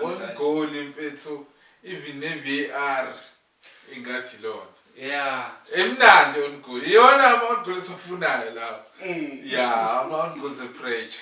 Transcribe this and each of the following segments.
One goal mfethu even ne VAR ingathi lona. Yeah. Emnandi on goal. Iyona ama on goal esifunayo lawo. Mm. Yeah, ama on goal the pressure.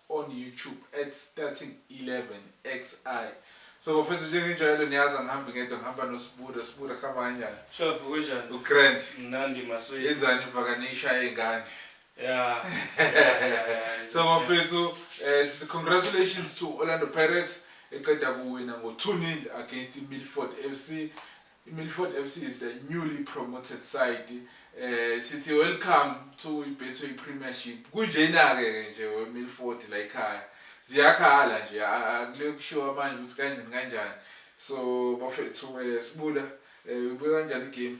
on YouTube at starting11xi so bafethu njengenjwayelo niyazi angihambi ngedwa ngihamba noSbuda Sbuda kuhamba kanjani Shophu kunjani uGrand mnandi maswethu yenzani ivakane ishaye ingane Yeah. so bafethu eh sithi congratulations to Orlando Pirates eqeda kuwina ngo 2-0 against Milford FC IMilford FC is the newly promoted side eh sithi welcome to iBetway Premiership kunjena-ke ke nje weMilford la ekhaya ziyakhala nje akule kushiwo manje ukuthi kanjani kanjani so bafethu eh, sibuda eh, ubuye kanjani igame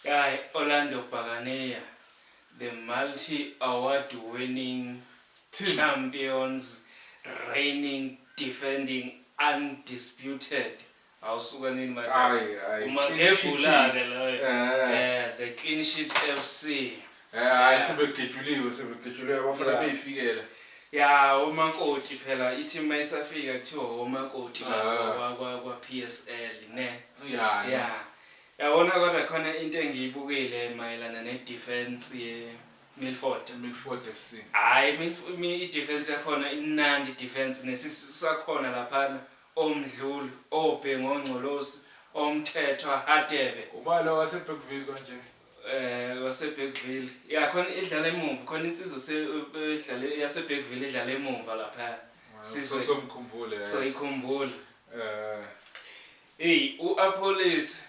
Guy Orlando Bhakaneya, the multi-award winning Team. champions, reigning, defending, undisputed Awu suka nini manje. Ayi ayi. Umagebhulake loyo. Eh. eh the clean sheet FC. Eh hayi sebegejuliwe sebegejuliwe abafana beyifikela. Ya omakoti phela ithi uma isafika kuthiwa omakoti ah. kwa kwa PSL ne. Ya. Ya. Yabona kodwa khona into engiyibukile mayelana ne defense ye Milford. Milford FC. Hayi i defense yakhona imnandi defense nesisisakhona laphana. oMdluli, oBhengu, oNgcolosi, oMthethwa, Hadebe. Ubani lo waseBergville konje? Eh waseBergville. Ya khona idlala emumva, khona insizwa se idlale yaseBergville idlala emumva lapha. Sizwe. Somkhumbule. So ikhumbula. Eh. Hey, uApollis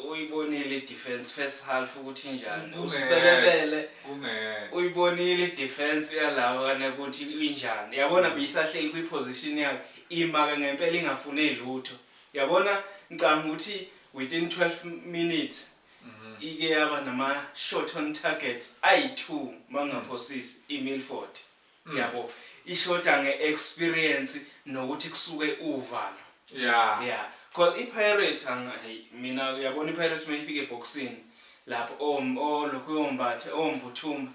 uyibonile idefense first half ukuthi njani. Usibelebele. Kungeke. Uyibonile idefense yalawa ukuthi injani. Yabona biyisahleli kwiposition yakhe. Imake ngempela ingafune lutho. Yabona ngicanga ukuthi within 12 minutes mhm. ike yaba nama short on targets ayi two mangaphosisi i Milford. Mm. Yabo ishoda nge experience nokuthi kusuke uvalo. Yeah. Yeah. Call i Pirates angayi mina yabona i Pirates mayifike eboxini. lapho o o lokhu ombathe ombuthuma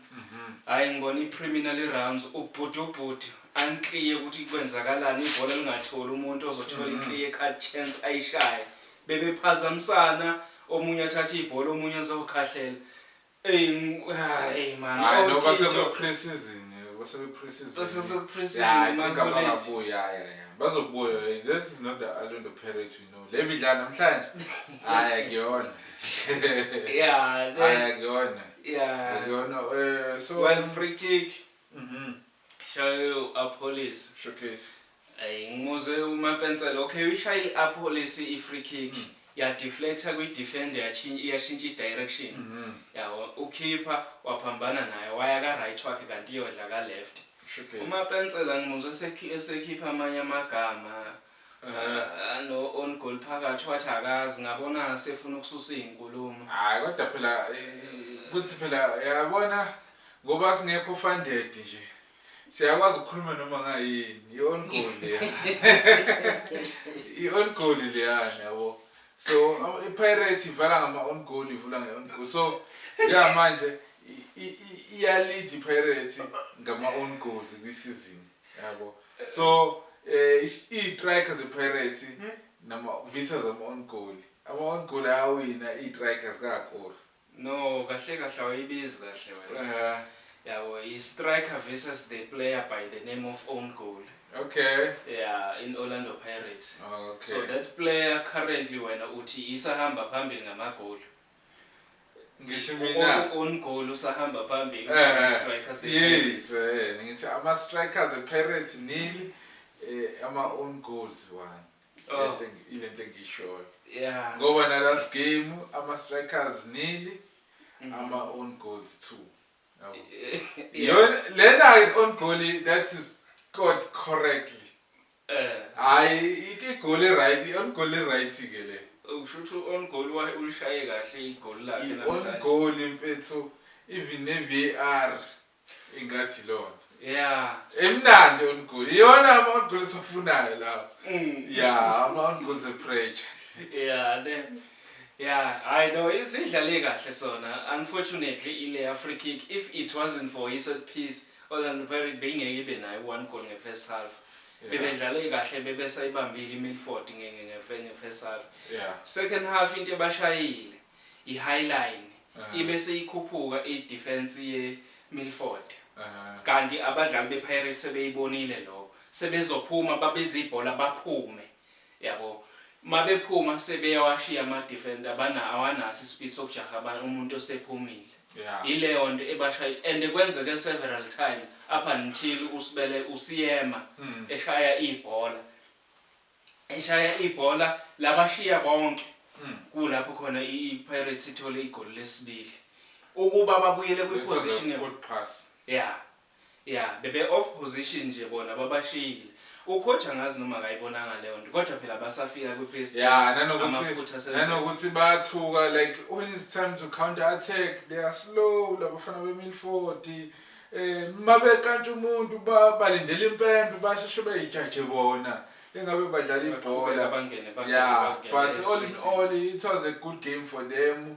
hayi ngibona icriminal rounds ubhuti ubhuti anclear ukuthi kwenzakalani ibhola lingatholi umuntu ozothola iclear cut chance ayishaye bebephazamisana omunye athatha ibhola omunye azokhahlela Ey hayi man hayi no base ku pre-season base ku pre-season base ku pre-season man bazobuya this is not the Orlando Pirates le midlalo namhlanje hhayi akuyona yeah hhayi akuyona yeah akuyona um so one free kick mhm shaye u-apolice showcase ayi ngimuzwe umapensela okay uyishaye i-apolice i-free kick mm. yadeflecta kwi-defender yashintsha i-direction mhm. yabo ukhipha waphambana naye waya ka-right wakhe kanti iyodla ka-left umapensela ngimuzwe esekhipha amanye amagama Ah, no on goal phakathi wathi akazi ngabona sefuna ukususa izinkulumo. Hayi kodwa phela eh, kuthi phela yabona ngoba singekho funded nje. Siyakwazi ukukhuluma noma ngayini. I on goal leya. I on goal leya yabo. So ama- iPirates ivala ngama on goal ivula nge on goal. So ya manje i- i- i- iya lead iPirates ngama on goals kwisizini. yabo so eh istrike ze Pirates hmm? nama visas ama on goal ama on goal ayawina istrikers kakhulu no kahle kahle awayibizi kahle wena eh. yabo i striker versus the player by the name of own goal okay yeah in Orlando Pirates okay so that player currently wena uthi isahamba phambili ngamagoli ngithi mina umgoli usahamba phambili striker yes eh ngithi ama strikers epirates nil eh, ama own goals one oh. ile nto engishoyo yeah ngoba na last game ama strikers nil mm-hmm. ama own goals two yona lena own goal that is caught correctly Eh. Hayi igoli eright, on goal eright ke le. Ukushuthi u-on goal wa ulishaye kahle igoli lakhe I-on namhlanje. goal mfethu even ne-VAR ingathi ilona. Yeah. Emnandi on goal. Iyona ama-on goal esiwafunayo lawa. Mm. Yeah, ama-on goals epressure. Yeah ne. Yeah, hayi no isidlale kahle sona. Unfortunately ile ya free kick if it wasn't for i-set piece Orlando Pirates beyingeke ibe nayo one goal nge first half. Yeah. Bebedlale kahle bebesayibambile iMilford nge nge nge nge first half. Yeah. Second half into ebashayile i high line Aha. ibe seyikhuphuka i defense ye Milford. Aha. Kanti abadlali be Pirates sebeyibonile lokho. Sebezophuma babeze ibhola baphume. Yabo mabephuma sebeyawashiya ama defender abana awanaso ispeed sokujaha abanye umuntu osephumile Yeah. ileyonto ebashaya and kwenzeke several times up until uSibele usiyema eshaya ibhola eshaya ibhola labashiya bonke kulapho khona i i Pirates ithole igoli lesibili ukuba babuyele kwi It was a position good pass. yeah Yeah bebe off position nje bona babashiyile. Ucoach angazi noma akayibonanga leyonto kodwa phela basafika kwi PSG. Yeah nanokuthi nanokuthi bayathuka like when it's time to counter attack they are slow labafana be Milford. Eh mabekantsha umuntu balindele impempe basheshe beyijaje bona. engabe badlala ibhola yeah but all in all it was a good game for them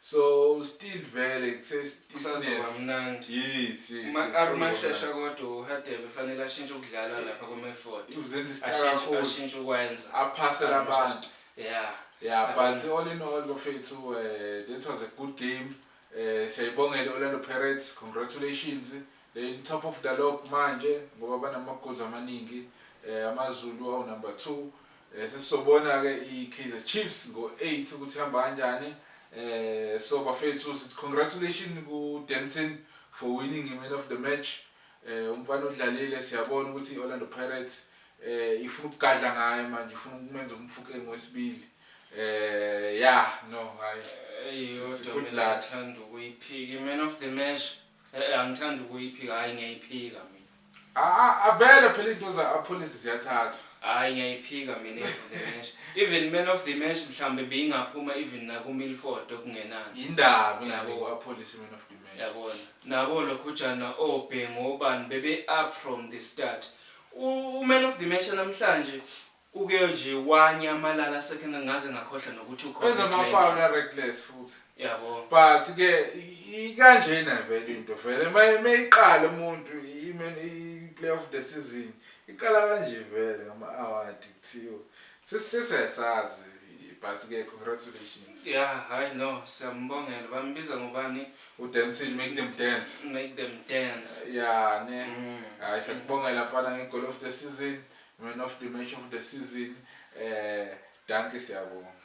So still vele kuse stiffness. Yes yes. Uma arumashesha kodwa uHadebe fanele ashintshe ukudlala lapha ku midfield. Uzenza isicaka kakhulu. Ashintshe ukwenza. Aphase labantu. Yeah. Yeah, but all in all bafethu uh, eh, that was a good game. Eh siyayibongela Orlando Pirates. Congratulations. They in top of the log manje ngoba banama goals amaningi. Eh AmaZulu awu number 2. Sesizobona-ke iKaizer Chiefs ngo 8 ukuthi ihamba kanjani. So bafethu sithi congratulations ku Denson for winning i man of the match. Umfana udlalile siyabona ukuthi i-Orlando Pirates ifuna ukugadla ngaye manje ifuna ukumenza umfukeng wesibili. Yeah no ngaye. Sithi good luck. Thanda ukuyiphika i man of the match. Eh angithandi ukuyiphika hayi ngiyayiphika mina. Ah avele phela into za policy ziyathatha. Hayi ngiyayiphika mina ngesh. Even man of the match mhlambe beyingaphuma even naku Milford okungenani. Indaba ingane kwa policy man of the match. Yabona. Nabo lokhujana obhengu obani bebe up from the start. U man of the match namhlanje Uke nje wanyamalala second ngaze ngakhohlwa nokuthi ukhona. Wenza ama foul a reckless futhi. Yabo. But ke ikanjena vele into vele mayiqala umuntu i player of the season iqala kanje vele ngama award kuthiwa sisisesazi but ke congratulations. Yeah, hayi no siyambongela bambiza ngobani? U dance make them dance. Make them dance. Yeah, ne. Mm. Hayi sakubongela mfana nge goal of the season. Man of the match of the season, eh dankie siyabonga.